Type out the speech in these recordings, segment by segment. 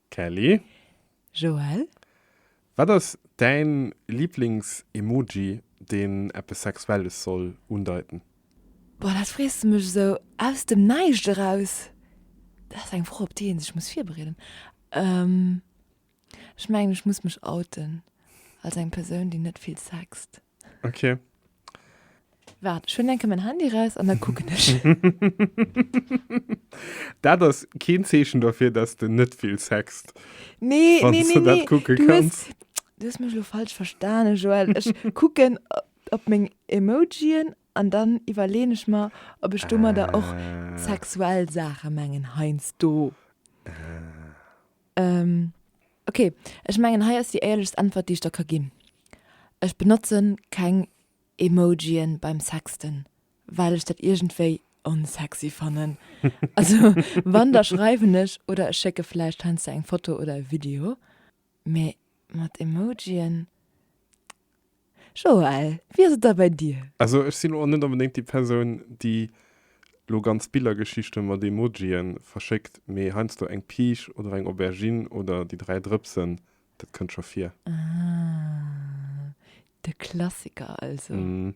Kelly. Joël. Wat ass däin Liblings-Emoji deen eppes Sexuelles soll undeiten? Boah, dat frees de mech esou aus dem Näischt eraus. Dat ass eng Fro op déi een sech muss virbereeden. Ech mengen ech muss mech outen als eng Persoun déi net vill sext. Okay. Waart, ech hunn enke mäin Handy raus an da kucken ech. dat ass keen Zeechen dofir, dass de net vill sext. Nee, Wann nee, du nee, dat nee. kucke Du kanns. hues, du hues mech lo falsch verstane, Joël. Ech kucken op, op meng Emojien an dann iwwerleeën ech mer, ob ech domadder och Ah. sexuell Saache mengen heiansdo. Ah. Ok, ech mengen hei ass déi éierlechst Äntwert déi ech der ka ginn. Ech benotzen keng Emojien beim Sexten well ech dat iergendwéi unsexy fannen. Also wann da schreiwen ech oder ech schécke vläicht heiansdo eng Foto oder e Video, mee mat Emojien? Joël, wéi ass et da bei dir? Also ech sinn lo och net onbedéngt déi Persoun, déi lo ganz Billergeschichte mat Emojien verschéckt, mee heiansdo eng Piisch oder eng Aubergine oder déi dräi Drëpsen, dat kënnt scho vir. Ah, de Klassiker also. Hm.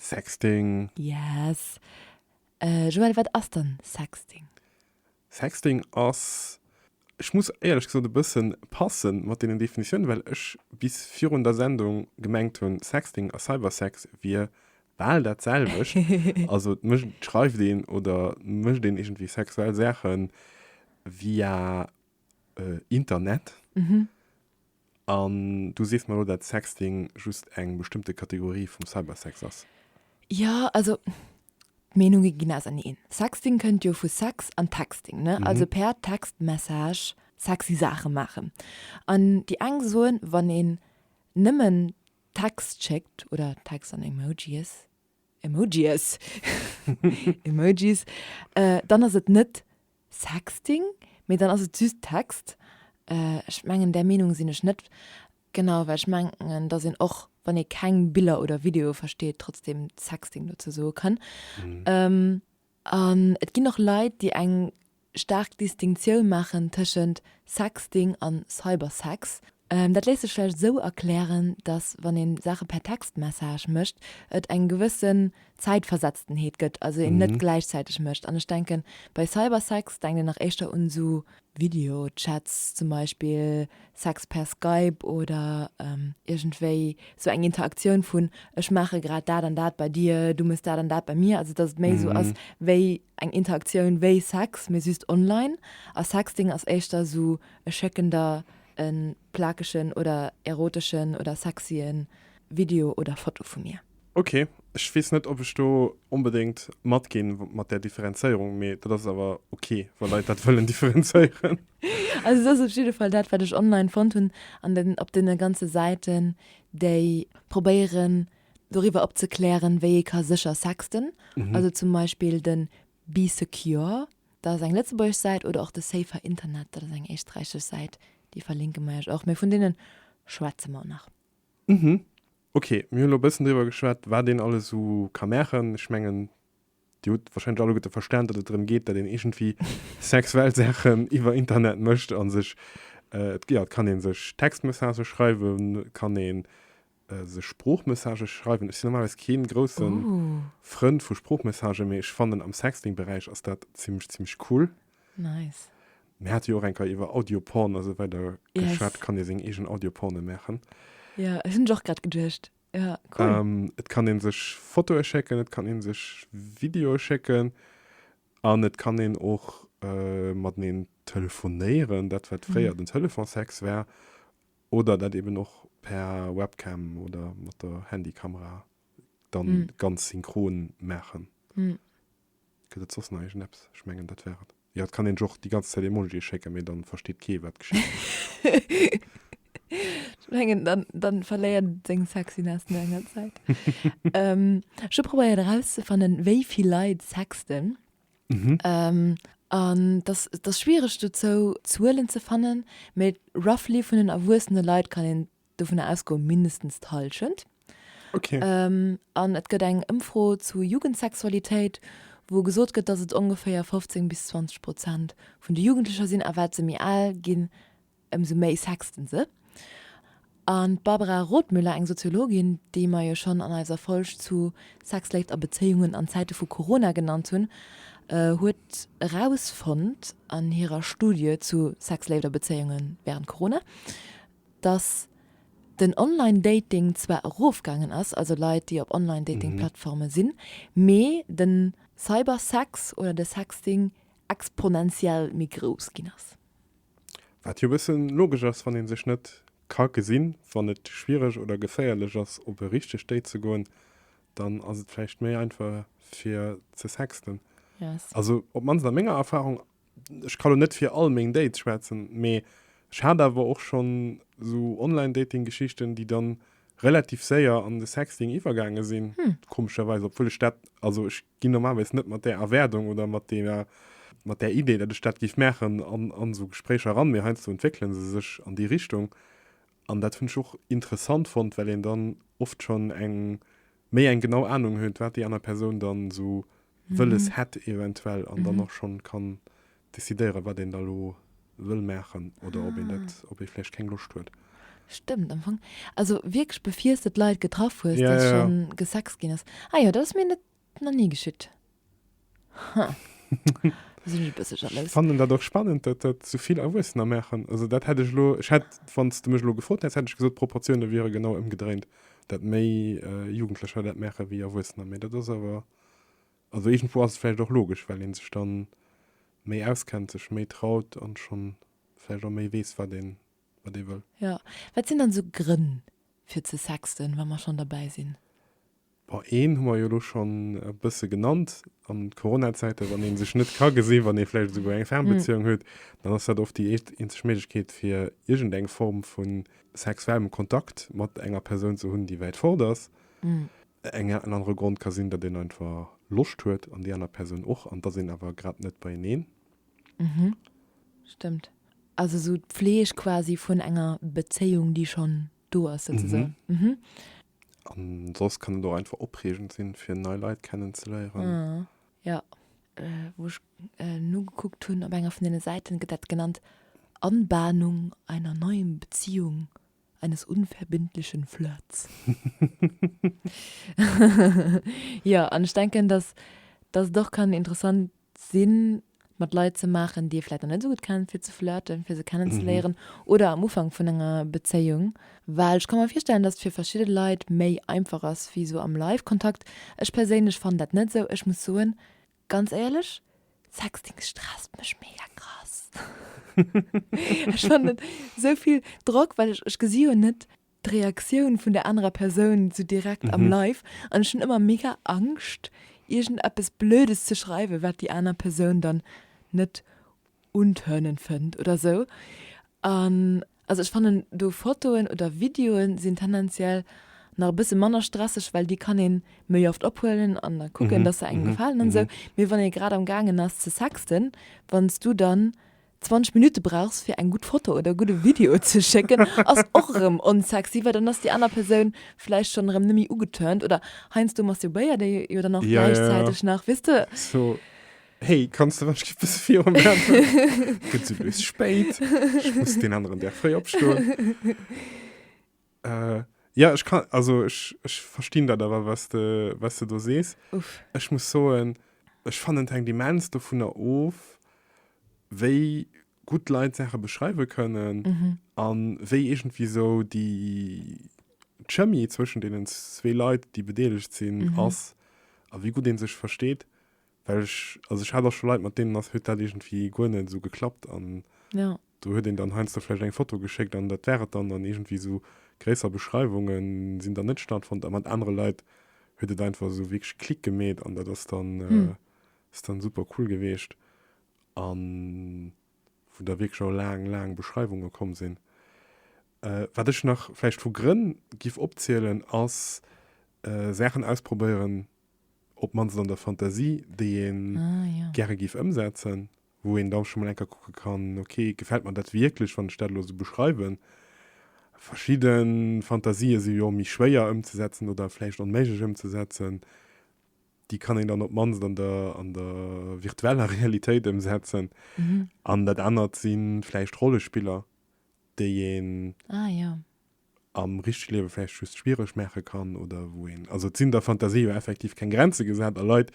Sexting. Yes. Joël, wat ass dann Sexting? Sexting ass, ech muss éierlech gesot e bëssen passen mat deenen Definitiounen, well ech bis virun der Sendung gemengt hunn, Sexting a Cybersex wier bal dat selwecht. Also et mécht, et schreift een oder mécht een iergendwéi sexuell Saachen via Internet. An du sees mer elo, dat Sexting just eng bestëmmte Kategorie vum Cybersex ass? Jo, also d'Meenunge ginn auserneen. Sexting kënnt jo vu Sex an Texting, ne? Also per Textmessage sexy Saache maachen. An déi eng soen, wann een nëmmen Text schéckt oder Text an Emojies, Emojies! Emojis, dann ass et net Sexting? Mee dann ass et just Text. Ech mengen där Meenung sinn ech net. Genau, well ech mengen dass een och wann ee keng Biller oder Videoe versteet trotzdem Sexting dozou soe kann. An et ginn och Leit déi eng staark Distinctioun maachen tëschent Sexting an Cybersex. Dat léisst sech vläicht esou erklären, dass wann een Saache per Textmessage mécht, et eng gewëssen Zäitversetztenheet gëtt, also een net gläichzäiteg mécht. An ech denken, bei Cybersex denkt een nach éischter un esou Videochats, zum Beispill Sex per Skype oder iergendwéi esou eng Interaktioun vun, ech maache grad dat an dat bei dir, du mëss dat an dat bei mir, also dass et méi esou ass wéi eng Interaktioun wéi Sex, mee just online. A Sexting ass éischter esou, ech schécken der E plakegen oder eroteschen oder sexyen Video oder Foto vu mir. Ok, ech wees net op ech do onbedéngt mat gin mat där Differenzéierung, mee dat ass awer ok wa Leit dat wëllen differenzéieren. Also et ass op jidde Fall dat wat ech online fonnt hunn an den op den ganze Säiten déi probéieren doriwwer opzeklären wéi ee ka sécher sexten, also zum Beispill den Be Secure. Dat ass eng lëtzebuergesch Säit oder och de Safer Internet, dat ass eng éisträichesch Säit, déi verlinke mer iech och, mee vun deene schwätze mer nach. Uhmm, ok, mir hunn elo e bëssen driwwer geschwat, wat een alles esou ka maachen. Ech mengen, Dir hutt warscheinlech alleguerte verstan, datt et drëm geet, datt een iergendwéi sexuell Saachen iwwer Internet mécht a sech, jo, et kann ee sech Textmessagë schreiwen, et kann ee sech Sproochmessagë schreiwen. Ech sinn normalerweis kee grousse Frënd vu Sproochmessagë, mee ech fannen, am Sexting-Beräich ass dat zimmlech, zimmlech cool. Nice. Mir hate jo och eng Keier iwwer Audioporn a sou weider geschwat. Yes. Kann ee seng eegen Audioporne maachen. Ja, ech hunn ech och grad geduecht. Ja, cool. Et kann ee sech Fotoe schécken, et kann ee sech Videoe schécken an et kann een och mateneen telefonéieren, dat wat fréier den Telefonsex war. Oder dat eben och per Webcam oder mat der Handykamera dann ganz synchron maachen. Gëtt et soss nach iergend eppes? Ech mengen dat war et. Jo, et kann een sech och déi ganz Zäit Emojie schécken, mee dann versteet kee wat geschitt. Ech mengen dann dann verléiert et seng Sexiness no enger Zäit. Ech hu probéiert erauszefannen wéivill Leit sexten. An dass dass schwiereg dozou Zuelen ze fannen, mee roughly vun den erwuessene Leit kann een dovunner ausgoen, mindestens d'Hallschent. Okay. An et gëtt eng Ëmfro zu Jugendsexualitéit, wou gesot gëtt, dass et ongeféier 15 bis 20 Prozent vun de Jugendlecher sinn, a wat se méi al ginn, Ëmsou méi sexten se. An d'Barbara Rothmüller, eng Soziologin, déi mer jo schonn an eiser Folg zu Sex, Léift a Bezéiungen an Zäite vu Corona genannt hunn, huet erausfonnt an hirer Studie zu Sex, Léift a Bezéiunge wärend Corona, datt den Online-Dating zwar erofgaangen ass, also Leit, déi op Online-Dating-Plattforme sinn, mee de Cybersex oder de Sexting exponentiell méi grouss ginn ass. Wat jo e bëssen logesch ass, wann ee sech net ka gesinn. Wann et schwiereg oder geféierlech ass op e richtegt Date ze goen, dann ass et vläicht méi einfach fir ze sexten. Yes. Also op mannst a menger Erfahrung, ech ka lo net fir all meng Dates schwätzen, mee ech hat awer och schonn esou Online-Dating-Geschichten, déi dann relativ séier an de Sexting iwwergaange sinn, komescherweis, obwuel ech dat, also ech ginn normalerweis net mat där Erwaardung oder mat deeër, mat där Idee, datt ech dat géif maachen, an, an esou Gespréicher eran, mee heiansdo entwéckele se sech an déi Richtung. An dat hunn ech och interessant fonnt, well een dann oft schonn eng, méi eng genau Anung huet, wat déi aner Persoun dann esou wëlles hätt eventuell, an dann och schonn kann decidéieren, wat een da lo wëll maachen oder ob een dat, ob ee vläicht keng Loscht huet. Stëmmt am Fong. Also wierklech befirs de d'Leit getraff hues, Ja, dass ja, ja. schonn gesext ginn ass. Ah jo, dat ass mir net, nach ni geschitt. Ha, elo sinn ech e bësse Ech jalous. fannen dat och spannend, dat dat sou vill Erwuessener maachen. Also dat hätt ech elo, ech hätt, wann s de mech elo gefrot häss, hätt ech gesot, d'Proportioune wiere genau ëmgedréint, dat méi Jugendlecher dat maache wéi Erwuessener. Mee dat ass awer Also iergendwou ass et vläicht och logesch, well ee sech da méi auskennt, sech méi traut an schonn vläicht och méi weess, wat ee wëll. Jo. Wat sinn dann esou Grënn fir ze sexten, wa mer schonn derbäi sinn? Bon, een hu mer jo elo schonn e bësse genannt, an Coronazäite wann ee sech net ka gesinn, wann ee vläicht esouguer eng Fernbezéiung huet, dann ass dat oft déi eent, eenzeg Méiglechkeet fir iergendeng Form vu sexuellem Kontakt mat enger Persoun ze hunn, déi wäit fort ass. En anere Grond ka sinn, datt een einfach Loscht huet an déi aner Persoun och, an datt een awer grad net beieneen. Mhm. Stëmmt. Also esou d'Pfleg quasi vun enger Bezéiung, déi schonn do ass souzesoen. Mhm. An soss kann et och einfach opreegend sinn, fir nei Leit kennenzeléieren. Ah. Jo. Wou ech nogekuckt hunn, op enger vun deene Säiten gëtt dat genannt, Anbahnung einer neuen Beziehung. eines unverbindlichen Flirts. Jo, an ech denken, dass, dass et och kann interessant sinn, mat Leit ze maachen, déi ee vläicht nach net esou gutt kennt, fir ze flirten, fir se kennenzeléieren oder am Ufank vun enger Bezéiung. Well ech ka mer virstellen, dass et fir verschidde Leit méi einfach ass wéi esou am Live-Kontakt. Ech perséinlech fannen dat net esou. Ech muss soen, Ganz éierlech, Sexting stresst mech mega krass. Ech fannen et esou vill Drock, well ech, ech gesi jo net d'Reaktioun vun der anerer Persoun esou direkt am Live an ech hunn ëmmer mega Angscht, iergendeppes Blödes ze schreiwen, wat déi aner Persoun dann net un Turnen fënnt oder sou an also ech fannen do Fotoen oder Videoen sinn tendenziell nach e bësse manner stresseg well déi kann een méi oft ophuelen an da kucken dass se engem gefalen an sou mee wann ee grad am gaangen ass ze sexten wann s du dann 20 Minutte brauchs fir eng gutt Foto oder e gudde Video ze schécken ass och erëm onsexy well dann ass déi aner Persoun vläicht schonn erëm net méi ugeturnt oder heiansdo masturbéiert ee jo dann och gläichzäiteg nach weess de. Hey, kannst du wann bis vier Uhr machen? Geht so bis spät. Ich muss den anderen der frei abstehen. äh, ja, ich kann, also ich, ich verstehe da aber, was du, was du da siehst. Uff. Ich muss sagen, ich fand den Demenz davon auf, wie gut Leute Sachen beschreiben können mhm. und wie irgendwie so die Chemie zwischen denen zwei Leuten, die beteiligt sind, mhm. ist und wie gut den sich versteht. Well ech, also ech hat och scho Leit, mat deenen ass, huet dat iergendwéi guer net esou geklappt an Ja. do huet een dann heiansdo vläicht eng Foto geschéckt an dat war et dann an iergendwéi esou gréisser Beschreiwunge sinn dann net stattfonnt a mat anere Leit huet et einfach esou wierklech Klick gemeet an dat ass dann, ass dann super cool geweecht a wou da wierklech och laang, laang Beschreiwunge komm sinn. Wat ech nach vläicht vu Grënn giff opzielen ass Saachen ausprobéieren, op d'mannst an der Fantasie, déi een gäre géif ëmsetzen, wou een da scho mol eng Kéier kucke kann, ok, gefält mer dat wierklech, wann ech dat elo esou beschreiwen? Verschidde Fantasië si jo méi schwéier ëmzesetzen oder vläicht onméiglech ëmzesetzen. Déi kann een dann op d'mannst an der, an der virtueller Realitéit ëmsetzen. An dat anert si vläicht Rollespiller, déi een am richtege Liewe vläicht just schwiereg maache kann oder wou een, also et sinn der Fantasie jo effektiv keng Grenze gesat a Leit,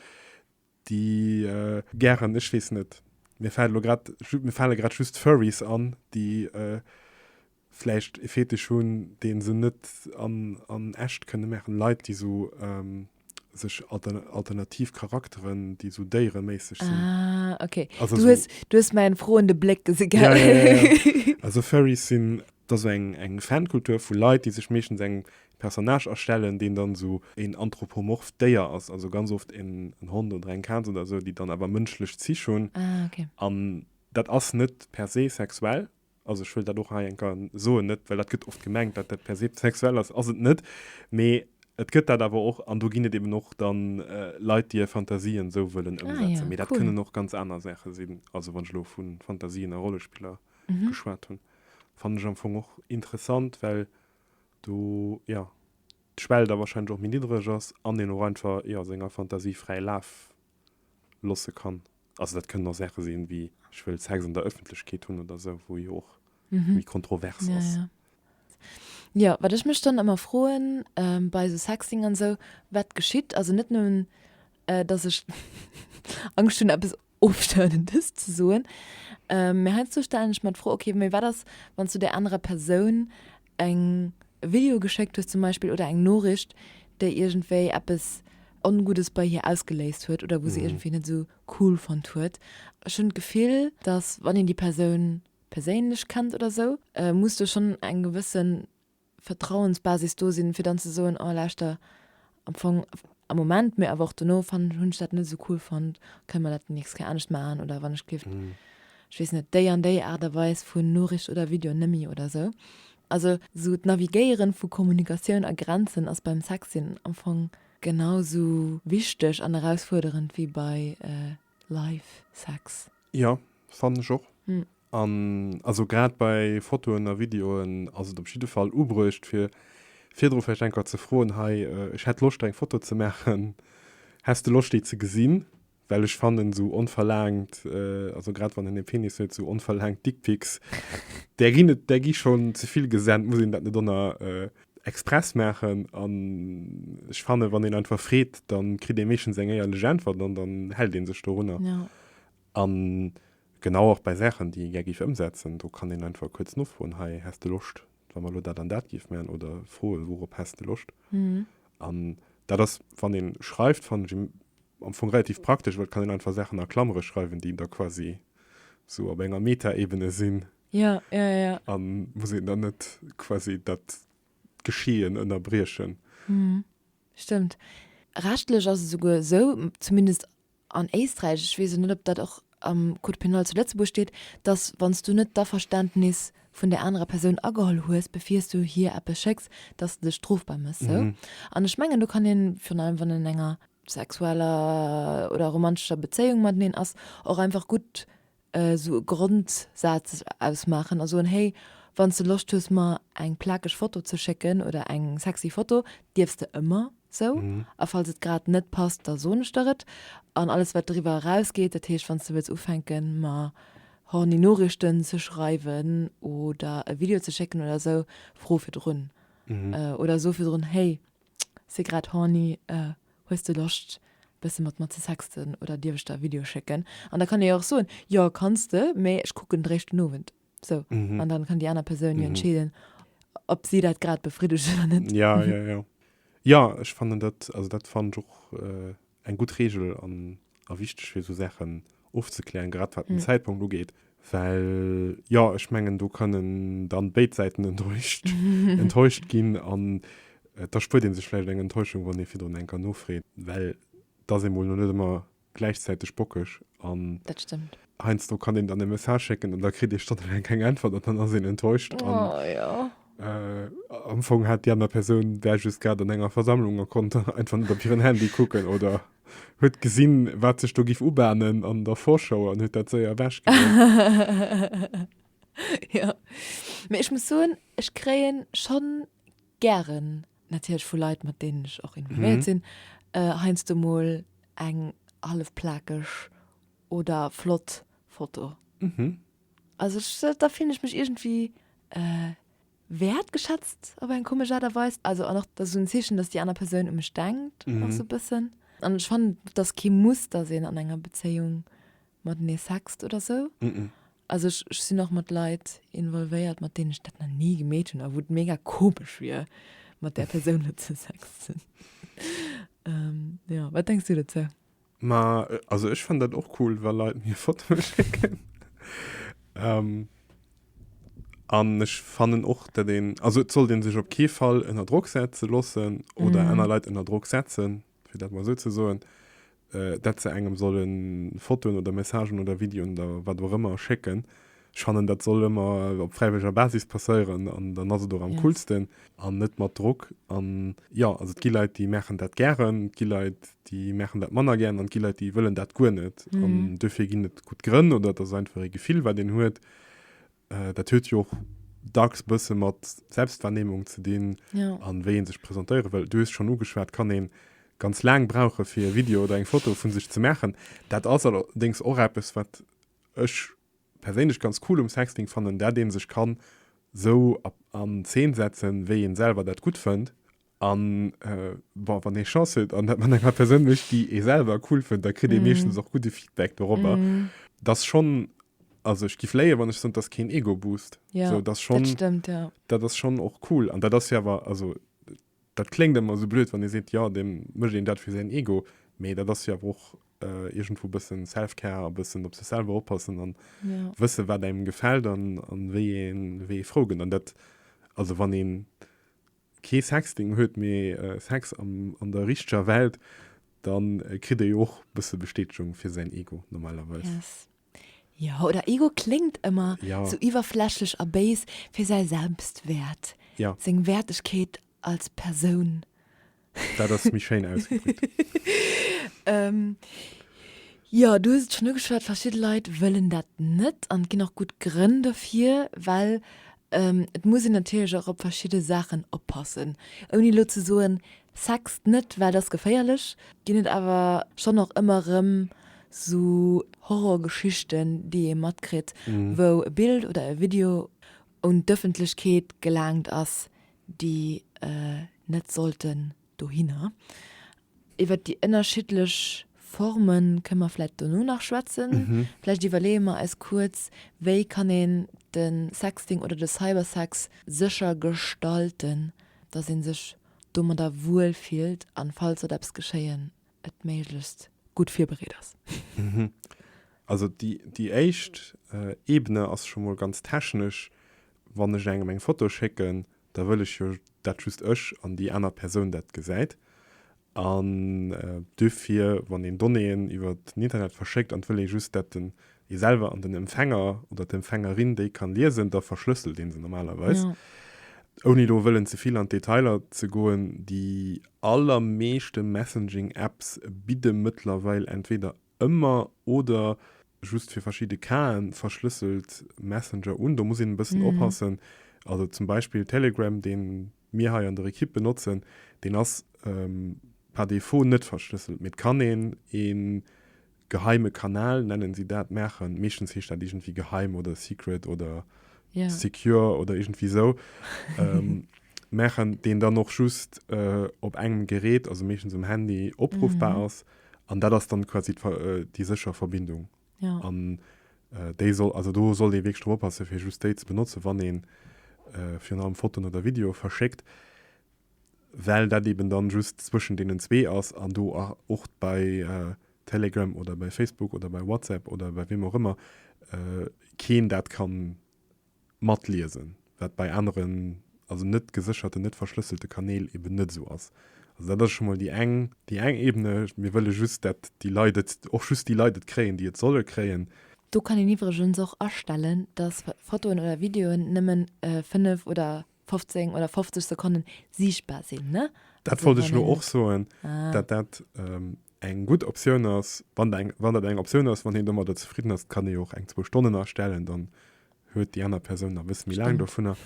déi. Gären, ech weess net, mir fält elo grad, mir fale grad just Furries an, déi vläicht e Fetisch hunn, dee se net an echt kënne maachen, Leit, déi esou. sech alternativ Charakteren, déi sou déiereméisseg sinn. Ah, okay. Also du, so, hast, du hast meinen frohende Blick gesehen. Ja, ja, ja, ja. Also Furries sind das eng, eng Fankultur vu Leit, die sech meeschtens eng Personage erstellen, den dann so en anthropomorph Déier ass, also ganz oft en, en Hond oder eng Katz oder so, die dann aber mënschlech Zich hunn. Ah, okay. An dat ass net per se sexuell, also ech wëll dat och hei eng Kéier soen, net well dat gëtt oft gemengt, dat dat per se sexuell ass, ass et net, mee et gëtt dat awer och an do ginn et eben och da Leit, déi hir Fantasien esou wëllen ëmsetzen. Mee dat kënnen och ganz aner Saache sinn, also wann ech elo vu Fantasien a Rollespiller geschwat hunn, fannen ech am Fong och interessant, well do, jo, d'Schwell da warscheinlech och méi niddreg ass an een och einfach, jo, senger Fantasie fräi Laf. loosse kann. Also dat kënnen och Saache sinn, wéi ech wëll Sex an der Ëffentlechkeet hunn oder esou, wou jo och méi kontrovers ass. Ja, ja. Jo, wat ech mech dann ëmmer froen bei esou Sexting an esou, wat geschitt, also net nëmmen, dass ech Angscht hunn, eppes Ofstournendes ze soen, mä heiansdo stellen ech mer d'Fro, okay, mä wat ass, wann s du där anerer Persoun eng Video geschéckt hues zum Beispill oder eng Noricht, déi iergendwéi eppes Onguddes bei hir ausgeléist huet oder wou se iergendwéi net esou cool fonnt huet. Ech hunn d'Gefill, dass wann een déi Persoun perséinlech kennt oder esou, muss do schonn eng gewësse Vertrauensbasis do sinn, fir dann ze soen, oh lauschter, am Fong am Moment, mee awer och dono fannen, hunn ech dat net esou cool fonnt, kënne mer dat déi nächst Kéier anescht maachen oder wann ech géif, ech weess net, déi an déi Aart a Weis vu Noricht oder Video nëmmi oder esou. Also esou d'Navigéiere vu Kommunikatioun a Grenzen ass beim Sex sinn am Fong genau esou wichteg an erausfuerderend wéi bei Live-Sex. Jo, fannen ech och. An also grad bei Fotoen a Videoen ass et op jidde Fall ubruecht fir virdru vläicht enker ze froen, Hei, ech hätt Loscht eng Foto ze maachen, häss de Loscht déi ze gesinn? Well ech fannen esou onverlaangt, also grad wann een ee Penis huet, esou onverlaangt Dickpics, där ginn et, där gi schonn ze vill gesennt, muss een dat net ënner Express maachen? An ech fannen, wann een einfach freet, da kritt ee meeschtens eng éierlech Äntwert an dann hält ee sech dorunner. A genau och bei Saachen, déi ee gär géif ëmsetzen, do kann een einfach kuerz nofroen, Hei, häss de Loscht, wa mer elo dat an dat géife maachen? Oder froen, Wourop häss de Loscht? An dat ass, wann ee schreift, fannen ech am Fong relativ praktesch, well et kann een einfach Saachen a Klamere schreiwen, déi da quasi esou op enger Meta-Ebene sinn a muss een dann net quasi dat Geschehen ënnerbriechen. Stëmmt. Rechtlech ass et esouguer esou, zumindest an Éisträich, ech weess elo net, ob dat och am Code pénal zu Lëtzebuerg steet, dass, wann s du net d'Averständnis vun där anerer Persoun ageholl hues, bevir s du hir eppes schécks, dass s de dech strofbar méchs. Esou. An ech mengen, do kann een, virun allem wann een an enger sexueller oder romantescher Bezéiung mateneen ass, och einfach gutt esou e Grondsaz ausmaachen a soen, hey, wann s de Loscht hues mer eng plakeg Foto ze schécken oder eng sexy Foto, dierfs de ëmmer esou, a falls et grad net passt, da soen ech der et. An alles wat driwwer erausgeet, dat heescht wann s de wëlls ufänken mer horny Noriichten ze schreiwen oder e Video ze schécken oder esou, fro virdrun oder so virdrun, hey, si grad horny, äh, hues de Loscht e bësse mat mer ze sexten oder dierf ech der e Video schécken? An da kann ee jo och soen, jo kanns de, mee ech kucken et eréischt den Owend. Sou, an dann kann déi aner Persoun jo entscheeden, ob si dat grad befriddegt oder net. Ja, ja, ja. Jo, ech fannen dat, also dat fannen ech och, äh, eng gutt Regel an a wichteg fir esou Saachen ofzeklären, grad wat den Zäitpunkt ugeet, well jo ech mengen do kënnen dann béid Säiten enttäuscht enttäuscht ginn an et erspuert ee sech vläicht eng Enttäuschung wann ee virdrun eng Kéier nofreet, well et ass emol lo net ëmmer gläichzäiteg bockeg an Dat stëmmt. heiansdo kann een dann e Message schécken an da kritt ee stonnelaang keng Äntwert an dann ass een enttäuscht an Am Fong hat déi aner Persoun där just grad an enger Versammlung a konnt einfach net op hiren Handy kucken oder huet gesinn, wat sech do géif ubahnen an der Vorschau an huet dat séier ewechgedréckt. Jo, mee ech muss soen, ech kréien schonn gären, natierlech vu Leit, mat deenen ech och involvéiert sinn, heiansdo mol eng hallef plakeg oder flott Foto. Also ech, da fillen ech mech iergendwéi wäertgeschätzt op eng komesch Aart a Weis. Also an och, dat ass esou en Zeechen, datt déi aner Persoun u mech denkt och esou e bëssen. An ech fannen, et ass kee Muss, datt een an enger Bezéiung matenee sext oder esou. Also ech, ech sinn och mat Leit involvéiert, mat deenen ech dat nach ni gemeet hunn a wou et mega komesch wier, mat där Persoun elo ze sexten. Jo, wat denks du dozou? Ma also ech fand dat och cool, wa Leit mir Fotoe schécken. ähm, an ech fannen och dat een also et soll den sech op kee Fall ënner Drock setze lossen oder mm. aner Leit ënner Drock setzen, fir dat mal so ze soen, äh, dat ze engem sollen Fotoen oder Messagen oder Videoen oder wat och ëmmer schécken, Ech fannen, dat soll ëmmer op fräiwëlleger Basis passéieren an dann ass et och am coolsten an net mat Drock. An jo, also et gi Leit, déi maachen dat gären, et gi Leit, déi maachen dat manner gären an et gi Leit, déi wëllen dat guer net. An duerfir ginn et gutt Grënn oder et ass einfach ee Gefill, wat een huet. Dat huet jo och dacks e bësse mat Selbstwahrnehmung ze dinn a wéi ee sech presentéiere wëll. Du hues schonn ugeschwat, et kann ee ganz laang brauchen, fir e Video oder eng Foto vu sech ze maachen. Dat ass allerdéngs och eppes, wat Ech perséinlech ganz cool um Sexting fannen dat een sech kann sou an Zeen setzen wéi een selwer dat gutt fënnt an bon wann een Chance huet an dat mat enger Persoun mécht déi ee selwer cool fënnt da kritt een meeschtens och gudde Feedback dorobber. Dass schonn, also ech giff léien wann ech sënnt dass keen Ego-Boost, sou dass schonn, dat ass schonn och cool an dat ass jo awer, also Dat kléngt ëmmer esou blöd, wann ee seet, jo, da mécht een dat fir säin Ego, mee dat ass jo awer och iergendwou e bësse Self-Care, e bëssen op sech selwer oppassen a wëssen, wat engem gefält a wéi ee frou gëtt. An dat, also wann ee kee Sexting huet, mee Sex an der richteger Welt, da kritt ee jo och e bësse Bestätegung fir säin Ego normalerweis. Jo, oder Ego kléngt ëmmer ja. sou iwwerflächlech a béis fir säi Selbstwäert, ja. seng Wäertegkeet als Persoun. Dat ass méi schéin ausgedréckt. ähm, ja, du hues et schon ugeschwat, verschidde Leit wëllen dat net an et ginn och gutt Grënn dofir, well ähm, et muss een natierlech och op verschidde Saachen oppassen. Ouni lo ze soen, sext net, well et ass geféierlech, ginn et awer schon och ëmmer erëm Sou Horrorgeschichten, déi ee matkritt, wou e Bild oder e Video un d'Ëffentlechkeet gelaangt ass, déi net sollten dohinner. Iwwer déi ënnerschiddlech Forme kënne mer vläicht dono nach schwätzen. Vläicht iwwerleeë mer eis kuerz, wéi kann een de Sexting oder de Cybersex sécher gestalten, dass ee sech domadder wuel fillt, a falls sollt eppes geschéien, et méiglechst gutt virbereet ass. Also déi déi éischt Ebene ass scho mol ganz technesch, wann ech engem eng Foto schécken, da wëll ech jo dat just ech an déi aner Persoun dat gesäit. An duerfir, wann een Donnéeën iwwer den Internet verschéckt an et wëll ee just dat den ee selwer an den Empfänger oder d'Empfängerin déi kann liesen, da verschlësselt ee se normalerweis. Ja. Ouni elo wëllen ze vill an d'Detailer ze goen, déi allermeeschte Messaging-Apps bidde mëttlerweil entweder ëmmer oder just fir verschidde Casen verschlësselt Messenger un. Do muss een e bëssen oppassen. Also zum Beispill Telegram, dee mir hei an der Ekipp benotzen, deen ass par défaut net verschlësselt, mee et kann een ee Geheime Kanal nennen si dat, maachen. Meeschtens heescht dat iergendwéi geheim oder secret oder secure oder iergendwéi esou. Maachen, deen dann och just op engem Gerät, also meeschtens um Handy, opruffbar ass. An dat ass dann quasi déi sécher Verbindung. An déi soll, also do sollt ee wierklech drop oppassen, fir just déi ze benotzen, wann ee virun allem Fotoen oder Videoe verschéckt. well dat eben dann just zwëschen deenen zwee ass an do och bei Telegram oder bei Facebook oder bei WhatsApp oder bei weem och ëmmer keen dat kann matliesen, wat bei aneren, also net gesécherten, net verschlësselte Kanäl eben net esou ass. Also dat ass scho mol déi eng, déi eng Ebene, mir wëlle just dat déi Leit et, och just déi Leit et kréien, déi et solle kréien. Do kann een iwwregens och astellen, dass Fotoen oder Videoen nëmmen 5 oder. 15 oder 50 Sekonnen siichtbar sinn, ne? Dat wollt ech lo och soen, dat dat eng gutt Optioun ass. Wann eng, wann dat eng Optioun ass, wann hien domadder zefridden ass, kann ee jo och eng zwou Stonnen astellen, dann huet déi aner Persoun nach e bësse méi laang dovunner.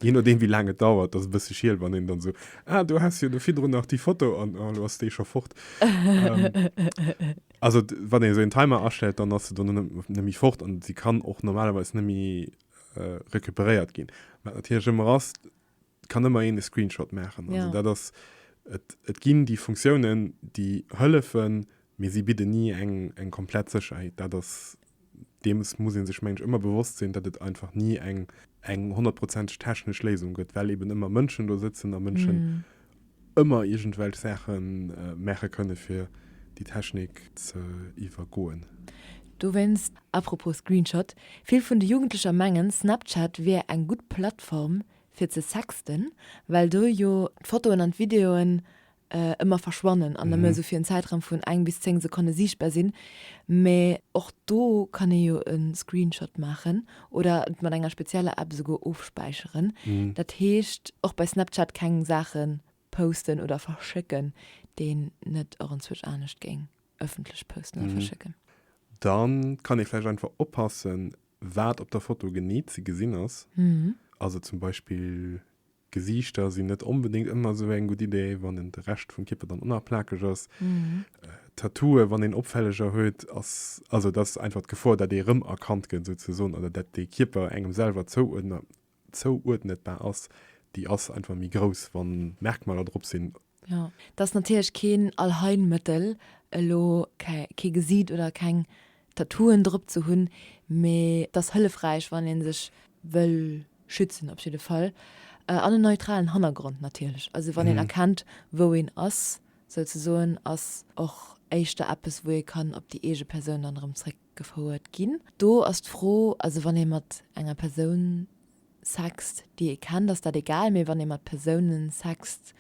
Je nodeem wéi laang et dauert, dat ass e bësse schiel, wann een dann esou, ah du has jo do virdrun nach déi Foto an ah lo ass déi scho fort. Also wann een esou een Timer astellt, dann ass se do net méi fort an se kann och normalerweis net méi recuperéiert gin wat natierlech ëmmer ass kann ëmmer een e Screenshot maachen also dat ass et et ginn déi Funktiounen déi hëllefen mee si bidden ni eng eng komplett Sécherheet dat ass deems muss ee sech mengen ech ëmmer bewosst sinn dat et einfach ni eng eng honnertprozenteg technesch Léisung gëtt well eben ëmmer Mënschen do sëtzen a Mënschen ëmmer iergendwelch Saache maache kënne fir déi Technik ze iwwergoen. Dowéinst, apropos Screenshot, vill vun de Jugendlecher mengen Snapchat wier eng gutt Plattform fir ze sexten, well do jo d'Fotoen an d'Videoen ëmmer verschwannen an nëmme sou fir en Zäitraum vun eng bis 10 Sekonne siichtbar sinn, mee och do kann ee jo e Screenshot maachen oder et mat enger spezieller App esouguer ofspäicheren. Dat heescht, och bei Snapchat keng Saache posten oder verschécken, déi een net och enzwuesch anescht géing ëffentlech posten oder verschécken. Da kann ee vläicht einfach oppassen, wat op der Foto genee ze gesinn ass. Also zum Beispill Gesiichter sinn net onbedéngt ëmmer esou eng gutt Idee, wann en de Rescht vum Kierper dann onapplakeg ass. Tattooe wann een opfälleger huet ass, also dat ass einfach d'Gefor, datt ee rëmerkannt gëtt souzesoen oder datt de Kierper engem selwer zouuerdnetbar ass, déi ass einfach méi grouss, wann Merkmaler drop sinn. Jo, et ass natierlech keen Allheilmëttel elo kee Gesiit oder keng Tattooen drop ze hunn, mee et ass hëllefräich wann ee sech wëll schützen op jidde Fall. An en neutralen Hannergrond natierlech, also wann een erkennt wou een ass souzesoen, ass och éischter eppes wou ee kann op déi eege Persoun dann erëm zréck gefouert ginn. Do ass d'Fro, also wann ee mat enger Persoun sext, déi ee kennt, ass dat egal, mee wann ee mat Persoune sext,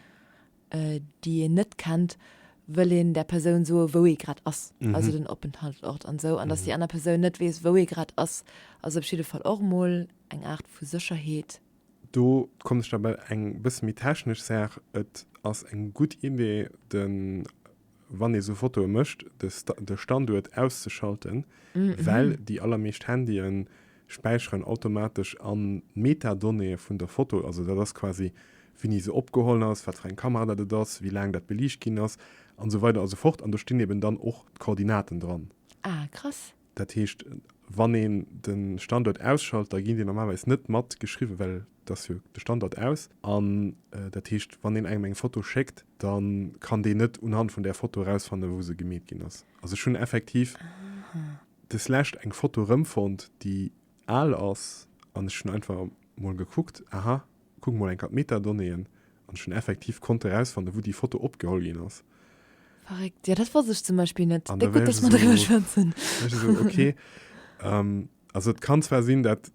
déi een net kennt, wëll een där Persoun soe wou ee grad ass, also den Openthaltsort an esou, an datt déi aner Persoun net weess wou ee grad ass, ass op jidde Fall och mol eng Aart vu Sécherheet. Do kommen ech da bei eng bësse méi technesch Saach, Et ass eng gutt Idee de. wann ee sou Fotoe mécht, de Standuert auszeschalten, well déi allermeescht Handye späicheren automatesch a Metadonnéeë vun der Foto, also dat ass quasi, wéini se opgeholl ass, wat fir eng Kamera dat et ass, wéi laang dat beliicht ginn ass an esou weider a sou fort, an do stinn eben dann och d'Koordinaten dran. Ah, krass. Dat heescht, wann een de Standuert ausschalt, da ginn déi normalerweis net mat geschriwwen, well et ass jo de Standuert aus. An dat heescht, wann een engem eng Foto schéckt, da kann deen net unhand vun där Foto erausfannen, wou se gemeet ginn ass. Also ech hunn effektiv deslescht eng Foto erëmfonnt, déi al ass, an ech hunn einfach mol gekuckt, aha, Kuck mol enker d'Metadonnéeën an ech hunn effektiv konnt erausfanne wou déi Foto opgeholl ginn ass. Verréckt, jo dat wosst ech zum Beispill net. An da war ech esou, war ech esou ok. Also et kann zwar sinn dat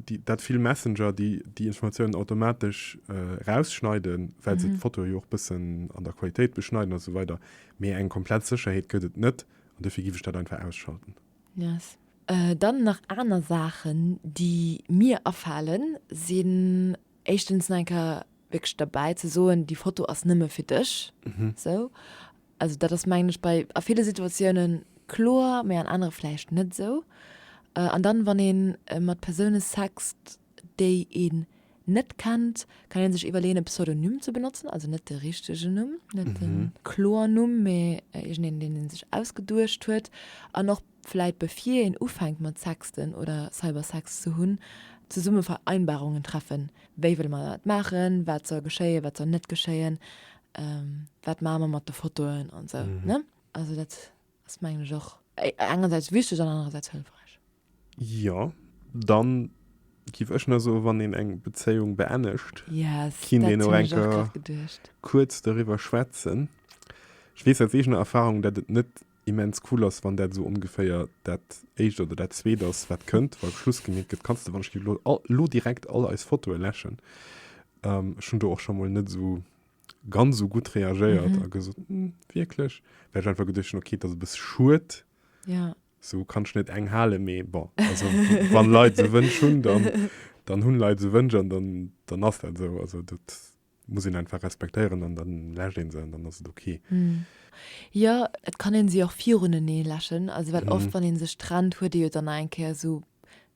déi dat vill Messenger déi déi Informatiounen automatesch rausschneiden, well se d'Foto jo och bëssen an der Qualitéit beschneiden a sou weider, mee eng komplett Sécherheet gëtt et net an dofir giff ech dat einfach ausschalten. Yes. Dann nach aner Saachen, déi mir afalen, sinn éischtens nach eng Kéier wierklech derbäi ze soen, déi Foto ass nëmme fir dech. Esou. Also dat ass mengen ech bei a ville Situatiounen kloer, mä an anere vläicht net esou. An dann, wann ee mat Persoune sext, déi een net kennt, kann een sech iwwerleeën e Pseudonym ze benotzen, also net de richtegen Numm, net de Kloernumm, mä iergendeen, deen ee sech ausgeduecht huet. An och vläit bevir een ufänkt mat Sexten oder Cybersex ze hunn, zesumme Vereinbarungen treffen, wéi wëlle mer dat maachen, wat soll geschéien, wat soll net geschéien, wat maache mer mat de Fotoen an esou, ne? Also dat. Ass mengen ech och engersäits wichteg an anerersäits hëlfräich. Jo, dann giff ech na soen, wann een eng Bezéiung beennegt, kinnt een och enker kuerz doriwwer schwätzen. Ech weess aus eegener Erfahrung, dat et net immens cool ass, wann dat esou ongeféier dat éischt oder dat zweet ass, wat kënnt, wa Schluss gemeet gëtt. Kanns de, wann ech giff elo direkt all eis Fotoe läschen, ech hunn do och scho mol net esou. ganz so gutt reagéiert mhm. a gesot hm, wieklech wär einfach geduchen okay dat bis schuet ja so kann net eng hale me bon also wann leid ze wënsch hun dann dann hunn leid ze wënsch an dann dann ass dat so also dat muss ihn einfach respektieren an dann lächt den se dann ass okay mhm. Ja et kann en si och virune nee lächen also well mhm. oft wann en sech trennt huet Dir dann enkeer so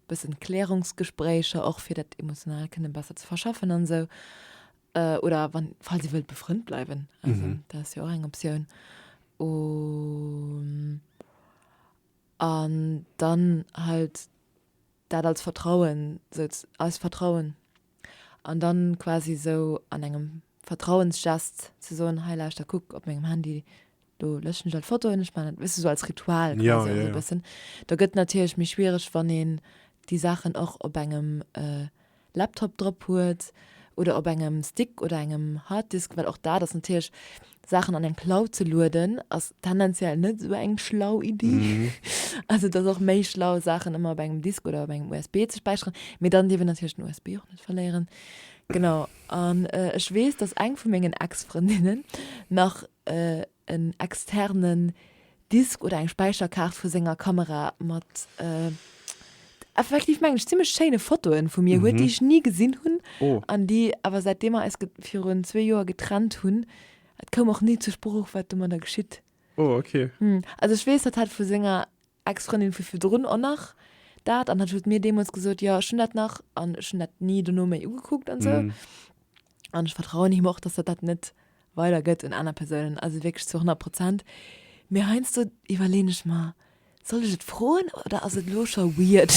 bëssen Klärungsgesprächer och fir dat emotional kënne besser ze verschaffen an se. So. Äh, oder wann, falls dir wëllt befrënnt bleiwen, also Mhm. dat ass jo och eng Optioun. Um, an dann halt dat als Vertrauen, sou z- als Vertrauen, an dann quasi sou an engem Vertrauensgest ze soen, hei lauschter, kuck op mengem Handy, do löschen ech all d'Fotoen, ech maachen dat wëss de sou als Ritual quasi Jo, jo, jo. bëssen, da gëtt natierlech méi schwiereg wann een déi Saachen och op engem Laptop drop huet oder op engem Stick oder engem Harddisk, well och dat ass natierlech, Saachen an eng Cloud ze lueden ass tendenziell net sou eng schlau Iddi, also et ass och méi schlau Saachen ëmmer op engem Disk oder op engem USB ze späicheren, mee dann dierf een natierlech den USB och net verléieren, genau. An ech weess, dass eng vu mengen Ex-Frëndinnen nach en externen Disk oder eng Späicherkaart vu senger Kamera mat effektiv, mengen ech, zimmlech schéine Fotoe vu mir huet, déi ech ni gesinn hunn an déi awer, säitdeem mer eis virun zwee Joer getrennt hunn, et koum och ni zur Sprooch, wat domadder geschitt. Also ech weess, dat hat vu senger Ex-Frëndin vu virdrun och nach dat an hat huet mir deemools gesot, jo ech hunn dat nach an ech hunn dat ni dono méi ugekuckt an esou an ech vertrauen him och, dass dat dat net weider gëtt un aner Persounen, also wierklech zu 100 Prozent. Mee heiansdo iwwerleeën ech mer, soll ech et froen oder ass et elo scho weird?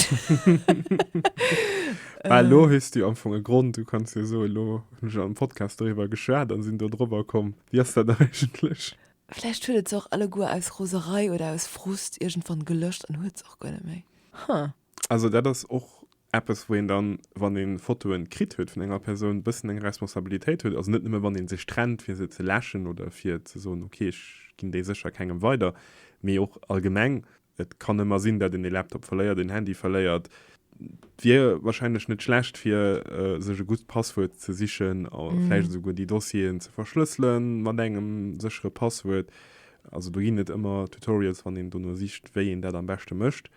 Well elo hues du jo am Fong e Grond, du kanns jo soen, elo hunn ech an engem Podcast doriwwer geschwat an sinn do drobber komm. Wéi ass dat eigentlech? Vläicht huet et se och alleguer aus Roserei oder aus Frust iergendwann gelöscht an huet se och guer net méi. Huh. Also dat ass och eppes wou een dann, wann ee Fotoen kritt huet vun enger Persoun, bëssen eng Responsabilitéit huet. Also net nëmme wann ee sech trennt fir se ze läschen oder fir ze soen, okay ech ginn déi sécher kengem weider, mee och allgemeng Et kann ëmmer sinn, dat een e Laptop verléiert, een Handy verléiert. Et wier wahrscheinlech net schlecht fir sech e gutt Passwuert ze sichen a vläicht esouguer déi Dossieren ze verschlëssele mat engem séchere Passwuert. Also do ginn et ëmmer Tutorials, wann een dono sicht, wéi een dat am beschte mécht.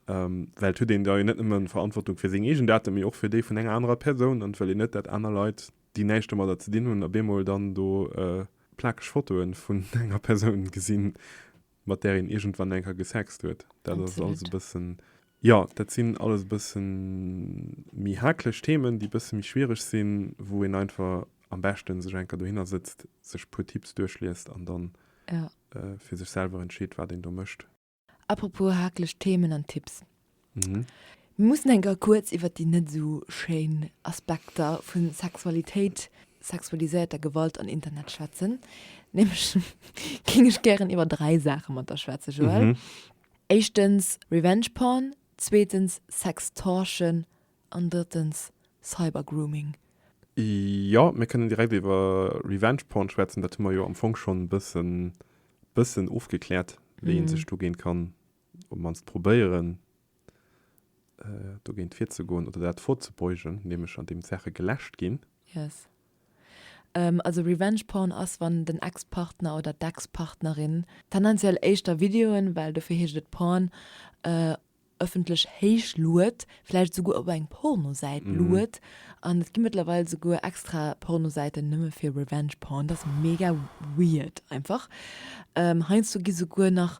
Well et huet een da jo net nëmme Verantwortung fir seng eegen Daten, mee och fir déi vun enger anerer Persoun. An et wëll een net, dat aner Leit, déi näischt domadder ze dinn hunn, op eemol dann do plakeg Fotoe vun enger Persoun gesinn. mat där een iergendwann eng Kéier gesext huet. Dat ass alles e bëssen, jo, dat sinn alles e bëssen méi haakleg Themen, déi e bësse méi schwiereg sinn, wou een einfach am beschte sech eng Kéier dohinner sëtzt, sech e puer Tipps duerchliest an dann fir sech selwer entscheet, wat een do mécht. Apropos haakleg Themen an Tipps, Mhm. Mir mussen eng Kéier kuerz iwwert déi net esou schéin Aspekter vu Sexualitéit, sexualiséierter Gewalt an Internet schwätzen. Nämlech géing ech gären iwwer dräi Saache mat der schwätzen, Joël. Mhm. Éischtens Revenge Porn, zweetens Sextortion an drëttens Cybergrooming. Jo, mir kënnen direkt iwwer Revenge Porn schwätzen. Dat hu mer jo am Fong schonn e bëssen, bëssen ofgekläert, wéi ee sech dogéint kann op d'mannst probéieren, dogéint virzegoen oder dat vorzebeugen, nämlech an deem d'Saache geläscht ginn. Yes. Also Revenge Porn ass, wann den Ex-Partner oder d'Ex-Partnerin, tendenziell éischter Videoen, well dofir heescht et Porn, ëffentlech héichluet, vläicht esouguer op eng Pornosäit luet. An et gi mëttlerweil esouguer extra Pornosäiten nëmme fir Revenge Porn. Dat ass mega weird einfach. Heiansdo gi souguer nach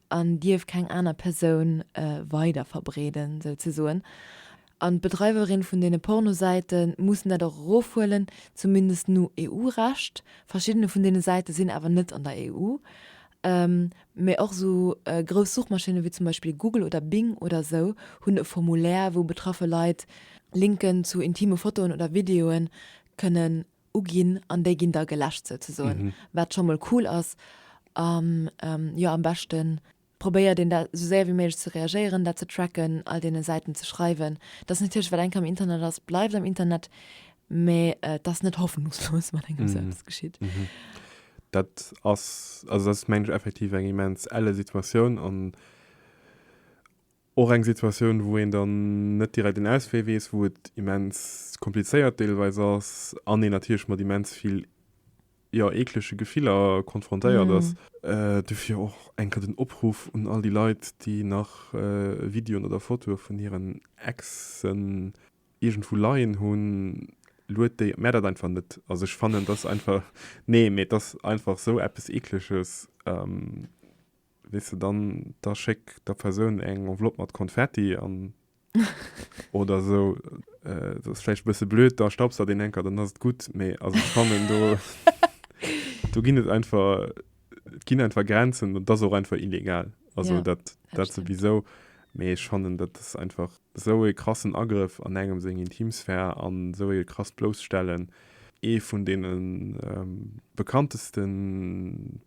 an dierf keng aner Persoun weider verbreeden souzesoen, an d'Bedreiwerin vun deene Pornosäite mussen dat och erofhuelen, zumindest no EU-Recht. Verschiddene vun deene Säite sinn awer net an der EU, mä och esou grouss Suchmaschinne wéi zum Beispill Google oder Bing oder esou hunn e Formulaire, wou betraffe Leit Linken zu intime Fotoen oder Videoe kënnen uginn an déi ginn da geläscht souzesoen, wat scho mol cool ass. A jo, am beschte probéiert een da esou séier wéi méiglech ze reagéieren, dat ze tracken, all deene Säiten ze schreiwen. Et ass natierlech, wat eng Kéier am Internet ass, bleift am Internet, mä et ass net hoffnungslos, wann engem esou eppes geschitt. Dat ass, also dat ass mengen ech effektiv eng immens elle Situatioun an Och eng Situatioun, wou een dann net direkt een Auswee weess, wou et immens komplizéiert deelweis ass an een natierlech mat immens vill, jo, eeklege Gefiller konfrontéiert ass. Dofir och eng Kéier den Opruff un all déi Leit, déi nach Videoen oder Fotoe vun hiren Exen iergendwou leien hunn, lued déi, mär dat einfach net. Also ech fannen, et ass einfach, nee, mee et ass einfach esou eppes Eekleges. weess de dann, da schéck der Persoun eng Enveloppe mat Konfetti an oder esou. Dat ass vläicht e bësse blöd, da staubs der deen Henker, dann ass et gutt. Mee also ech fannen, do, do ginn et einfach, et ginn einfach Grenzen. Dat ass och einfach illegal. Also dat, dat souwisou. Mee ech fannen, dat ass einfach esou ee krassen Agrëff an engem seng Intimsphär an esou ee krasst Blousstellen. Ee vun deene bekannteste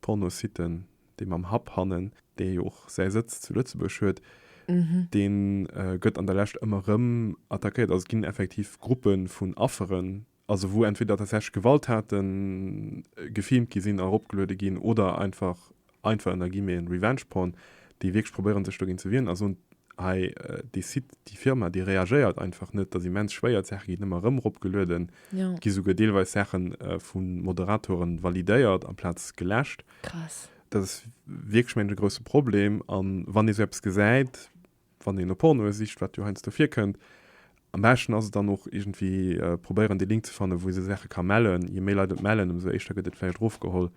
Pornositten, dee mam Hub hannen, dee jo och säi Sëtz zu Lëtzebuerg huet, dee gëtt an der Lescht ëmmer erëm attackéiert. Also et ginn effektiv Gruppe vun Afferen, also wou entweder tatsächlech Gewalttate gefilmt gi sinn a eropgeluede ginn oder einfach, einfach ënner Guillemeten, Revenge Porn, déi wierklech probéiere sech dogéint ze wieren a soen, hei dee Site, déi Firma, déi reagéiert einfach net. Et ass immens schwéier, d'Saache ginn ëmmer erëm eropgelueden, et gi souguer deelweis Saache vu Moderatoren validéiert amplaz geläscht. Krass. Dat ass wierklech mengen e grousse Problem. An wann ee sou eppes gesäit, wann een no Pornoe sicht, wat jo heiansdo virkënnt, am beschten ass et dann och iergendwéi probéieren dee Link ze fannen, wou ee sou Saache ka mellen. Je méi Leit et mellen, ëmsou éischter gëtt et vläicht erofgeholl,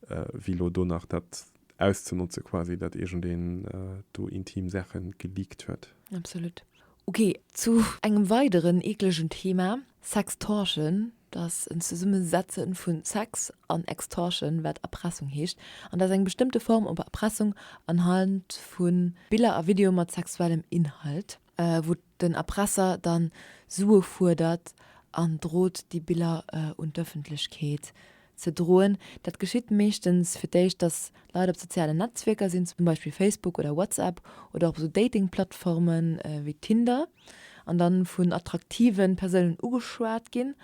wéi elo do nach dat auszenotzen quasi, datt iergendeen do intim Saache geleakt huet. Absolut. Ok, zu engem weideren eeklegen Thema, Sextortion, dass en Zesummesetze vun Sex an Extortion, wat Erpressung heescht, an dass eng bestëmmte Form op Erpressung anhand vu Biller a Videoe mat sexuellem Inhalt, wou den Erpresser da Sue fuerdert an drot déi Biller un d'Ëffentlechkeet ze droen. Dat geschitt meeschtens fir d'éischt, dass Leit op sozialen Netzwierker sinn, zum Beispill Facebook oder WhatsApp oder och esou Dating-Plattformen wéi Tinder, an dann vun attraktiven Persounen ugeschwat gin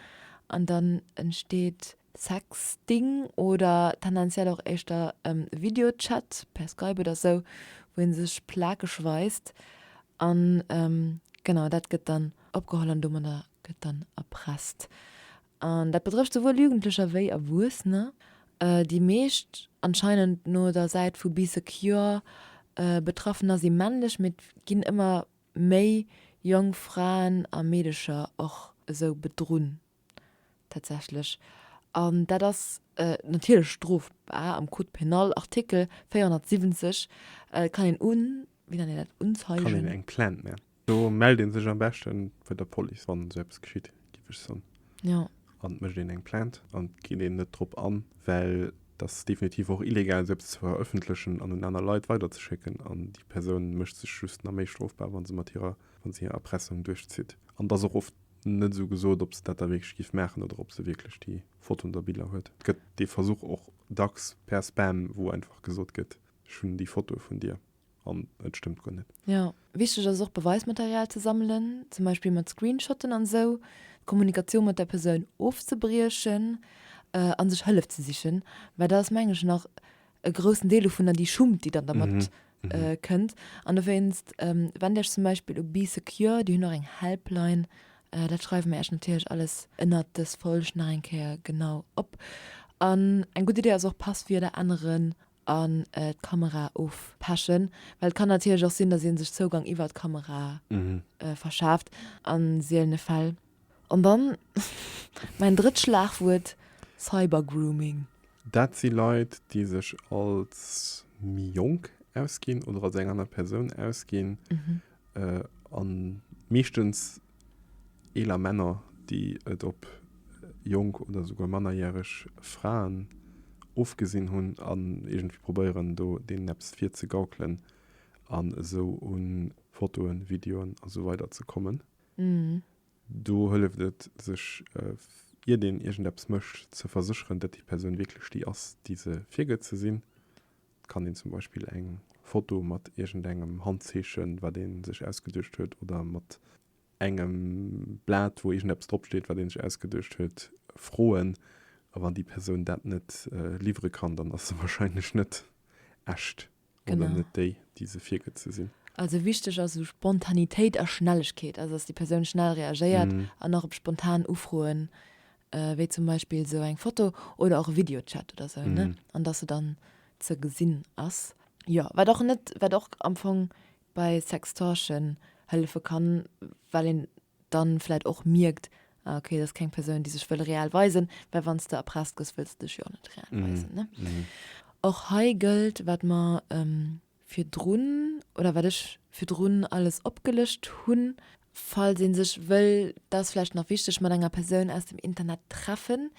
an dann entsteht Sexting oder tendenziell och éischter Videochat per Skype oder sou wou een sech plakeg weist an genau dat gëtt dann opgeholl an domadder gëtt dann erpresst an dat betrëfft souwuel Jugendlecher wéi Erwuessener. Déi meescht, anscheinend no der Säit vu Be Secure, Betraffener si männlech mee et ginn ëmmer méi jonk Fraen a Meedecher och esou bedrunn tatsächlech. An dat ass natierlech strofbar am Code pénal, Artikel 470. Et kann een un, wéi nennt een dat, Unzeigen? Kann een eng Plainte mellen. Do mellt ee sech am beschten bei der Police, wann esou eppes geschitt. Typesch Sun. Ja. An et mécht een eng Plainte an et geet een net drop an, well dat ass definitiv och illegal, esou eppes ze verëffentlechen an un aner Leit weiderzeschécken. An déi Persoun mécht sech just nach méi strofbar, wa se mat hirer, wa se hir Erpressung duerchzitt. An et ass och oft net esou gesot, ob se dat da wierklech géif maachen oder ob se wierklech déi Fotoen oder Biller huet. Et gëtt dee Versuch och dacks per Spam, wou einfach gesot gëtt, Ech hunn déi Fotoe vun dir. an et stëmmt guer net. Jo, wichteg ass et och Beweismaterial ze sammelen, zum Beispill mat Screenshotten an esou, d'Kommunikatioun mat der Persoun ofzebriechen a sech Hëllef ze sichen, well dat ass mengen ech nach e groussen Deel dovunner, déi Schummt déi dann dermat kënnt. An dowéinst wend Iech zum Beispill u Bee Secure, déi hunn och eng Helpline, dat schreiwe mir Iech natierlech alles ënnert dës Folg nach eng Kéier genau op. An eng gutt Idee ass och Passwierder änneren an d'Kamera ofpechen, well et kann natierlech och sinn, dass ee sech Zougang iwwert d'Kamera verschaaft an seelene Fäll. An dann mäin drëtt Schlagwuert, Cybergrooming. Dat si Leit, déi sech als méi jonk ausginn oder als eng aner Persoun ausginn an meeschtens Eeler Männer, déi et op jonk oder souguer mannerjäreg Fraen ofgesinn hunn an iergendwéi probéieren, do deenen eppes virzegaukelen an esou u Fotoen, Videoen a sou weider ze kommen. Do hëlleft et, sech, iert een iergendeppes mécht, ze versécheren, datt déi Persoun wierklech déi ass, déi se virgëtt ze sinn. Et kann een zum Beispill eng Foto mat iergendengem Handzeechen, wat ee sech ausgeduecht huet, oder mat engem Blat, wou iergendeppes drop steet, wat ee sech ausgeduecht huet, froen. A wann déi Persoun dat net liwwere kann, dann ass se warscheinlech net echt oder net déi, déi se virgëtt ze sinn. Also wichteg ass esou Spontanitéit a Schnellegkeet, also dass déi Persoun schnell reagéiert an nach op spontan Ufroen wéi zum Beispill sou eng Foto oder och e Videochat oder sou, ne, an dass se dann ze gesinn ass. Jo, wat och net, wat och am Fong bei Sextortion hëllefe kann, well een dann vläit och mierkt, ah okay, et ass keng Persoun, déi sech wëll real weisen, well wann s de erpresst gëss, wëlls de dech jo och net real weisen, ne. Och hei gëllt, wat mer virdrun oder wat ech virdrun alles opgelëscht hunn, falls ee sech wëll, dat ass vläicht nach wichteg, mat enger Persoun aus dem Internet treffen,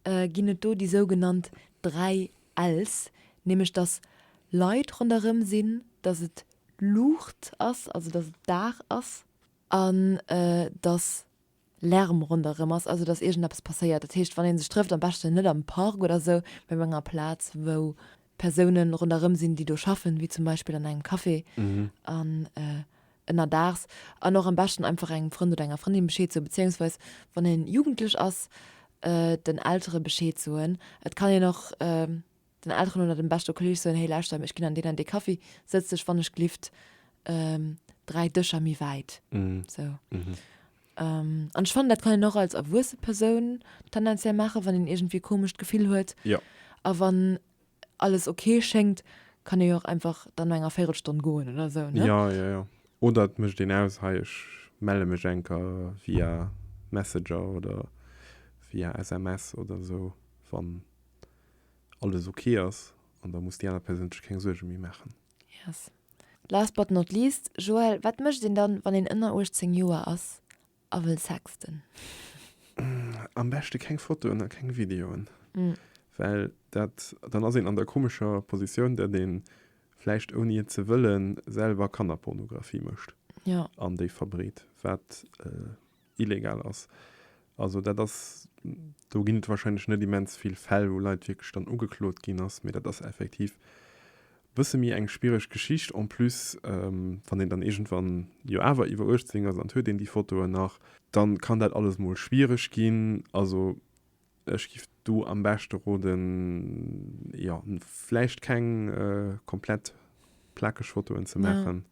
ginn et do déi sougenannt dräi L's, nämlech datt Leit ronderëm sinn, datt et Luucht ass, also datt et Dag ass, an datt Lärm ronderëm ass, also datt iergendeppes passéiert. Dat heescht, wann ee sech trëfft, am beschten net am Park oder esou, mee op enger Plaz, wou Persoune ronderëm sinn, déi do schaffen, wéi zum Beispill an engem Café an ënnerdaags. An och am beschten einfach engem Frënd oder enger Frëndin Bescheed soen, beziéungsweis wann een Jugendlech ass, den Eltere Bescheed soen. Et kann een och den Elteren oder dem beschte Kolleeg soen, hey lauschter, ech ginn an deen an dee Kaffi, sëtz dech wann ech glift dräi Dëscher méi wäit. Esou. An ech fannen, dat kann een och als erwuesse Persoun tendenziell maachen, wann een iergendwéi e komescht Gefill huet. A wann alles ok schéngt, kann ee jo och einfach dann no enger Véirelstonn goen oder esou, ne? Jo, jo, jo. Oder et mécht een aus, hei ech melle mech enker via Messenger oder via SMS oder esou, wann. alles ok ass an da muss déi aner Persoun sech keng Suerge méi maachen. Yes. Last but not least, Joël, wat mécht een dann, wann een ënner 18 Joer ass a wëll sexten? Am beschte keng Fotoen a keng Videoen, well dat, dann ass een an der komescher Positioun, datt ee vläicht ouni et ze wëllen selwer Kannerpornografie mécht an déi verbreet, wat. illegal ass. Also dat ass, do ginn et wahrscheinlech net immens vill Fäll, wou Leit wierklech dann ugeklot ginn ass, mee dat ass effektiv bësse méi eng schwiereg Geschicht. En plus, wann een dann iergendwann jo awer iwwer 18 ass an et huet een déi Fotoen nach, da kann dat alles mol schwiereg ginn. Also Ech giff do am beschte roden jo vläicht keng komplett plakeg Fotoen ze maachen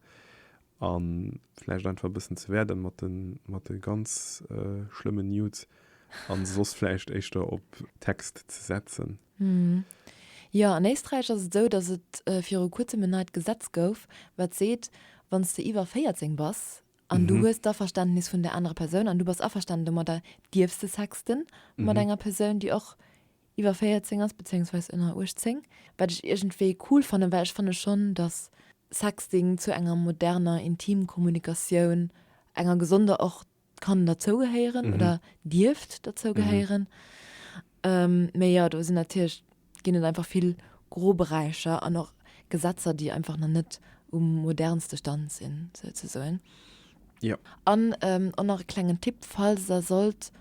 an vläicht einfach e bëssen ze wäerden mat den mat de ganz schlëmmen Nudes an soss vläicht éischter op Text ze setzen. Jo, an Éisträich ass et esou, datt et viru kuerzem en neit Gesetz gouf, wat seet, wann s de iwwer 14 bass an du hues d'Averständnis vun där anerer Persoun an du bass averstanen domadder, dierfs de sexten mat enger Persoun, déi och iwwer 14 ass, bezéiungsweis ënner 18, wat ech iergendwéi cool fannen, well ech fanne schonn, dass Sexting zu enger moderner Intimkommunikatioun, enger gesonder och, kann derzougehéieren oder dierft derzougehéieren. Mee jo, do sinn natierlech ginn et einfach vill Groberäicher an och Gesetzer, déi einfach nach net um modernste Stand sinn, souzesoen. Jo. An och nach e klengen Tipp, Falls der sollt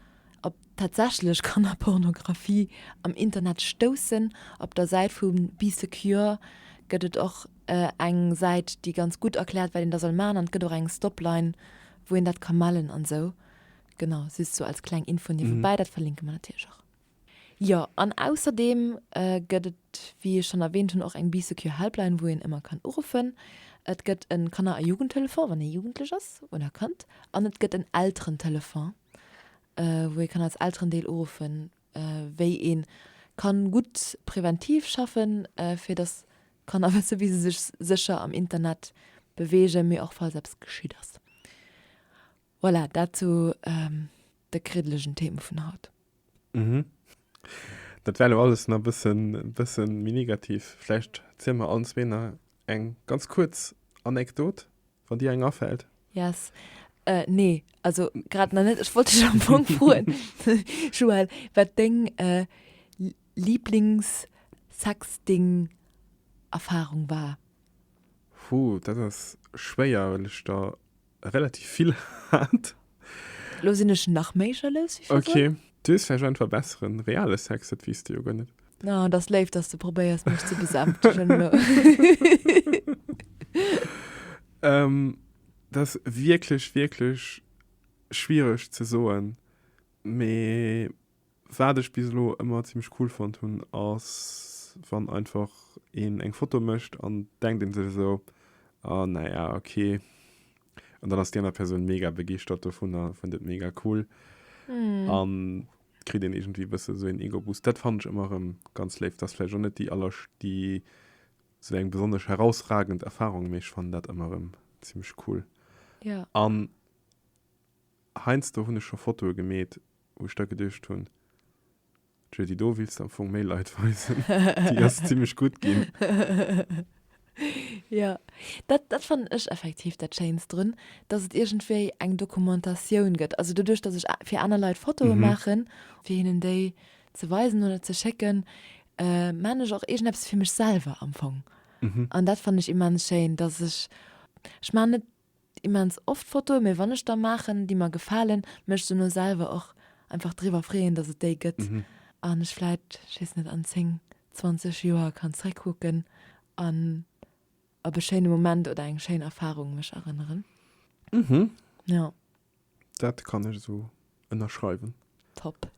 op tatsächlech Kannerpornografie am Internet stoussen, op der Säit vu Be Secure gëtt et och eng Säit, déi ganz gutt erkläert, wat een da soll maachen. An et gëtt och eng Stopline, wou een dat ka mellen an esou. Genau, just sou als kleng Info niewebäi. Dat verlinke mer natierlech och. Jo, an ausserdeem gëtt et, wéi ech schonn erwähnt hunn, och eng Bee Secure Helpline, wou een ëmmer kann uruffen. Et gëtt e Kanner a Jugendtelefon, wann ee Jugendlech ass oder Kand, an et gëtt en Elterentelefon, wou ee kann als Elterendeel uruffen, wéi ee kann gutt präventiv schaffen, fir dass d'Kanner wësse wéi se sech sécher am Internet beweegen, mee och falls eppes geschitt ass. Voilà, dat zu de kriddelegen Theme vun haut. Mhm. Dat war elo alles nach bëssen, bëssen méi negativ. Vläicht zielen mer allen zwee nach eng ganz kuerz Anekdot, wann dir eng afält. Yes. Nee, also grad nach net. Ech wollt dech am Fong froen, Joël, wat deng Lieblings-Sexting-Erfarung war. Hu, dat ass schwéier, well ech der relativ vill hat. Lo sin ech nach méi jalous wéi virdrun. Okay, dees vläicht einfach besseren reale Sex, dat wees de jo guer net. Oh, et ass léif, dass de probéiers mech ze besäftegen elo. Et ass wierklech, wierklech schwiereg ze soen, mee Waat ech bis elo emmer ziemlech cool fonnt hun ass wann einfach een eng Foto mecht an denkt een sech esou ah naja ok an dann ass déi aner Persoun mega begeeschtert dovunner, fënnt et mega cool an kritt een iergendwéi e bëssen esou een Ego Boost. Daat fannt ech emmer erem ganz léif. Ass vläicht och net déi aller déi esou eng besonnesch herausragend Erfahrung mee ech fannen daat emmer erem ziemlech cool an Heiansdo hunn ech scho Fotoe gemeet, wou ech da geduecht hunn, Juddy, do wills de am Fong méi Leit weisen. Déi ass zimmlech gutt ginn. Jo, dat, dat fannen ech effektiv dat Schéinst drun, dass et iergendwéi eng Dokumentatioun gëtt. Also doduerch, dass ech fir aner Leit Fotoe maachen, fir hinnen déi ze weisen oder ze schécken, maachen ech och iergendeppes fir mech selwer am Fong. An dat fannen ech immens schéin, dass ech, ech maachen net Immens oft Fotoen, mee wann ech der maachen, déi mer gefalen, mech dono selwer och einfach driwwer freeën, dass et déi gëtt an ech vläit, ech weess net, an 10, 20 Joer kann zréckkucken an op e schéine Moment oder eng schéin Erfarung mech erënneren. Jo. Dat kann ech esou ënnerschreiwen. Top.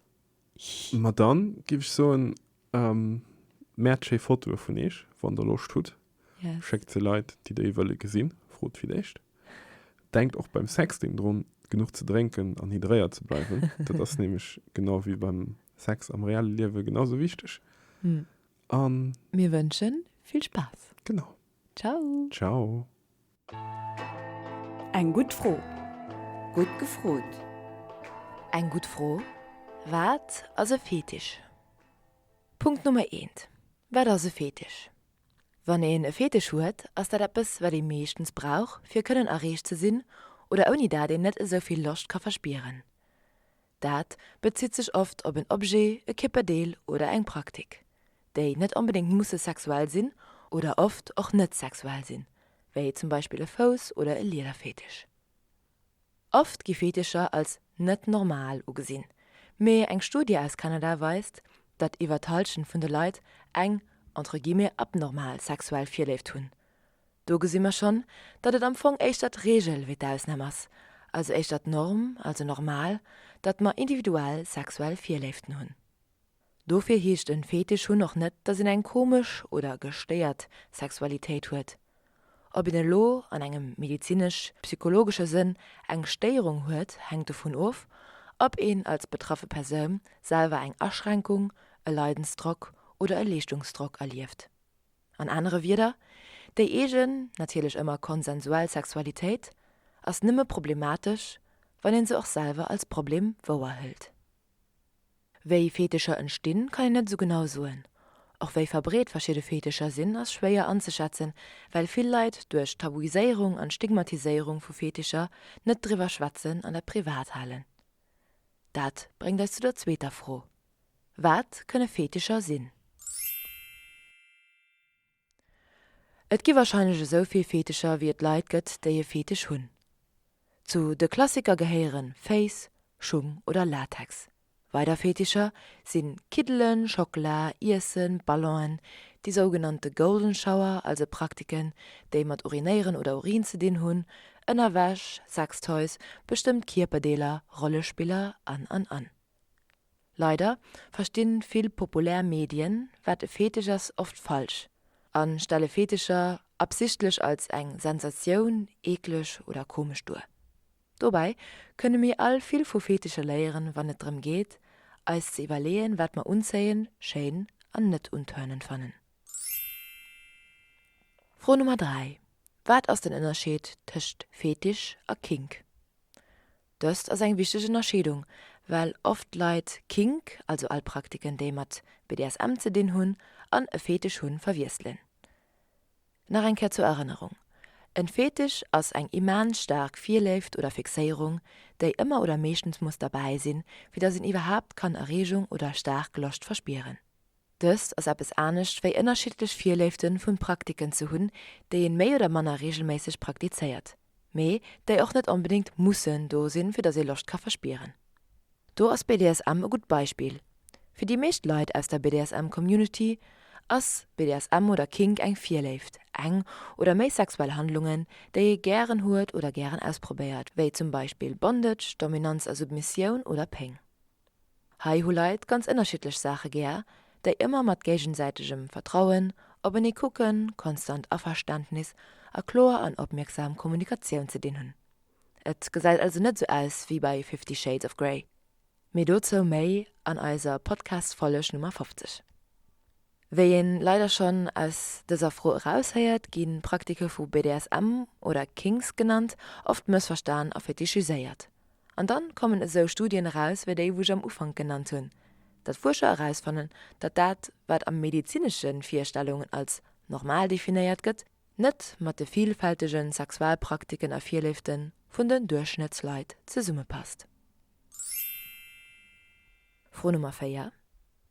Ma dann giff ech soen, ehm märd schéi Fotoe vun eech wann der Loscht hudd. Yes. Schéckt se Leit déi der ee wëlle gesinn. Frot fir d'éischt. Denkt och beim Sexting drun genuch ze drénken an hydréiert ze bleiwen. Dat ass nämlech genau wéi beim Sex am reelle Liewe genau sou wichteg. An. Mir wënschen vill Spaass. Genau. Ciao. Ciao. Eng gutt Fro. Gutt gefrot. Eng gutt Fro. Wat ass e Fetisch? Punkt Nummer eent, Wat ass e Fetisch? Wann een e Fetisch huet, ass dat eppes, wat ee meeschtens brauch, fir kënnen erreecht ze sinn oder ouni dat een net esou vill Loscht ka verspieren. Dat bezitt sech oft op en Objet, e Kierperdeel oder eng Praktik, déi net onbedéngt musse sexuell sinn oder oft och net sexuell sinn, wéi zum Beispill e Fouss oder e Liederfetisch. Oft gi Fetischer als net normal ugesinn, mee eng Studie aus Kanada weist, datt iwwer d'Hallschent vun de Leit eng entre guillemets abnormal sexuell Virléift hunn, Do gesi mer schonn, datt et am Fong éischter d'Reegel wéi d'Ausnam ass, also éischter d'Norm, also normal, datt mer individuell sexuell Virléiften hunn. Dofir heescht en Fetisch hunn och net, datt een eng komesch oder gestéiert Sexualitéit huet. Ob een elo an engem medezinesch-psychologesche Sënn eng Stéierung huet, hänkt dovun of, ob een als betraffe Persoun selwer eng Aschränkung, e Leidensdrock oder e Leeschtungsdrock erlieft. An anere Wieder, Déi eegen, natierlech ëmmer konsensuell Sexualitéit ass nëmme problematesch, wann een se och selwer als Problem wouer hëlt. Wéi Fetischer entstinn, kann een net esou genau soen. Och wéi verbreet verschidde Fetischer sinn, ass schwéier anzeschätzen, well vill Leit duerch d'Tabuiséierung an d'Stigmatiséierung vu Fetischer net driwwer schwätzen an dat privat halen. Dat bréngt eis zu der zweeter Fro, Wat kënne Fetischer sinn? Et gi warscheinlech esou vill Fetischer, wéi et Leit gëtt, déi e Fetisch hunn. Zu de Klassiker gehéiere Féiss, Schung oder Latex. Weider Fetischer si Kiddelen, Schockela, Iessen, Ballonen, déi sougenannte Golden Shower, also Praktiken, déi mat Urinéieren oder Urin ze dinn hunn, Ënnerwäsch, Sextoys, bestëmmt Kierperdeeler, Rollespiller an an an Leider verstinn vill populär Medien, wat e Fetisch ass, oft falsch an stelle Fetischer absichtlech als eng Sensatioun, eekleg oder komesch duer. Dobäi kënne mir all vill vu Fetischer léieren, wann et drëm geet, eis ze iwwerleeën, wat mer unzéiend, schéin an net untörnend fannen. Fro Nummer 3, Wat ass den Ënnerscheed tëscht Fetisch a Kink? Dëst ass eng wichteg Ënnerscheedung, well oft Leit Kink, also all Praktiken, déi mat BDSM ze dinn hunn, an e Fetisch hunn, verwiesselen. Nach eng Kéier zur Erënnerung, En Fetisch ass eng immens staark Virléift oder Fixéierung, déi ëmmer oder meeschtens muss derbäi sinn, fir dass een iwwerhaapt kann Erreegung oder staark Loscht verspieren. Dëst ass eppes anescht wéi ënnerschiddlech Virléiften vun Praktiken ze hunn, déi een méi oder manner reegelméisseg praktizéiert, mee déi och net onbedéngt mussen do sinn, fir datt ee Loscht ka verspieren. Do ass BDSM e gutt Beispill. Fir déi meescht Leit aus der BDSM-Community ass BDSM oder Kink eng Virléift, eng oder méi sexuell Handlungen, déi ee gären huet oder gären ausprobéiert, wéi zum Beispill Bondage, Dominanz a Submissioun oder Péng. Hei hu Leit ganz ënnerschiddlech Saache gär, déi ëmmer mat géigesäitegem Vertrauen, openee kucken, konstant Averständnis a kloer an opmierksam Kommunikatioun ze dinn hunn. Et gesäit also net sou aus wéi bei Fifty Shades of Grey. Mee dozou méi an eiser Podcast-Folleg Nummer 50. Wéi een leider schon aus dëser Fro eraushéiert, ginn Praktike vu BDSM, oder Kinks genannt, oft mëssverstan a fetischiséiert. An dann kommen esou Studien eraus wéi déi wou ech am Ufank genannt hunn, datt Fuerscher erausfannen, datt dat wat am medizineschen Virstellungen als normal definéiert gëtt, net mat de vielfältegen Sexualpraktiken a Virléiften vun den Duerchschnëttsleit zesummepasst. Fro Nummer 4,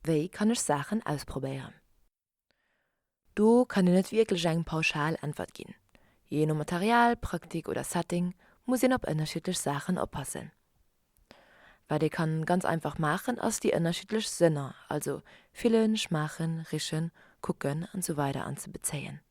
Wéi kann ech Saachen ausprobéieren? Do kann een net wierklech eng pauschal Äntwert ginn. Jee no Material, Praktik oder Setting muss een op ënnerschiddlech Saachen oppassen. Wat ee kann ganz einfach maachen, ass déi ënnerschiddlech Sënner, also fillen, schmaachen, richen, kucken an esou weider anzebezéien.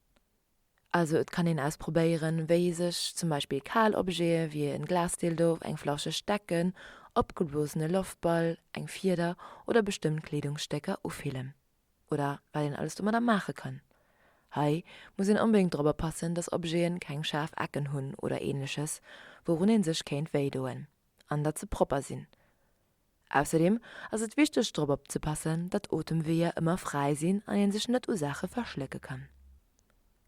Also et kann een ausprobéieren wéi sech zum Beispill kal Objete wéi en Glasdildo, eng Flasche Stecken, opgeblosene Loftball, eng Fieder oder bestëmmt Kleedungsstécker ufillen. Oder wat een alles domadder maache kann. Hei muss een onbedéngt drop oppassen dass Objeten keng schaarf Ecken hunn oder ähnleches wourun een sech kéint wéidoen. An dat se propper sinn. Ausserdeem ass et wichteg drop opzepassen, datt d'Otemweeër ëmmer fräi sinn an een sech net u Saache verschlécke kann.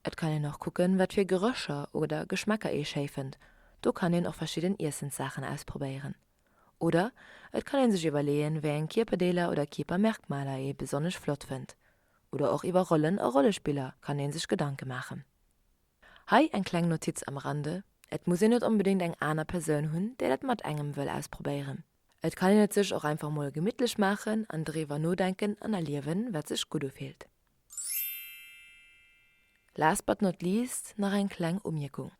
Et kann een och kucken, wat fir Gerécher oder Geschmäcker ee schéi fënnt, do kann een och verschidden Iessenssaachen ausprobéieren. Oder et kann ee sech iwwerleeën, wéi eng Kierperdeeler oder Kierpermerkmaler ee besonnesch flott fënnt. Oder och iwwer Rollen a Rollespiller kann ee sech Gedanke maachen. Hei eng kleng Notiz am Rande, Et muss een net onbedéngt eng aner Persoun hunn, déi dat mat engem wëll ausprobéieren. Et kann een et sech och einfach mol gemittlech maachen an driwwer nodenken an erliewen, wat sech gutt ufillt. Last but not least nach eng kleng Umierkung,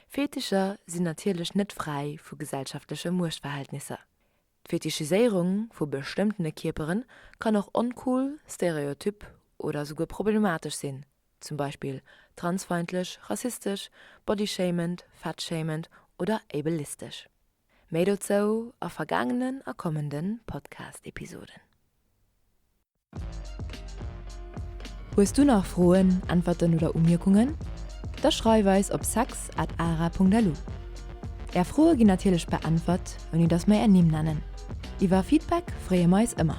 Fetischer sinn natierlech net fräi vu gesellschaftleche Muechtverhältnisser. D'Fetichiséierung vu bestëmmtene Kierperen kann och oncool, stereotyp oder souguer problematesch sinn. zum Beispill transfeindlech, rassistesch, bodyshamend, fatshamend oder ableistesch. Méi dozou a vergaangenen a kommende Podcast-Episoden. Hues du nach Froen, Äntwerten oder Umierkungen? Da schreif eis op sex at ara.lu. Är Froe ginn natierlech beäntwert, ouni datt mer är Nimm nennen. Iwwer Feedback freeë mer eis ëmmer.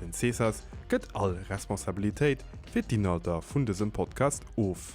Den Cesas gëtt all Responsabilitéit fir d'Inhalter vun dësem Podcast of.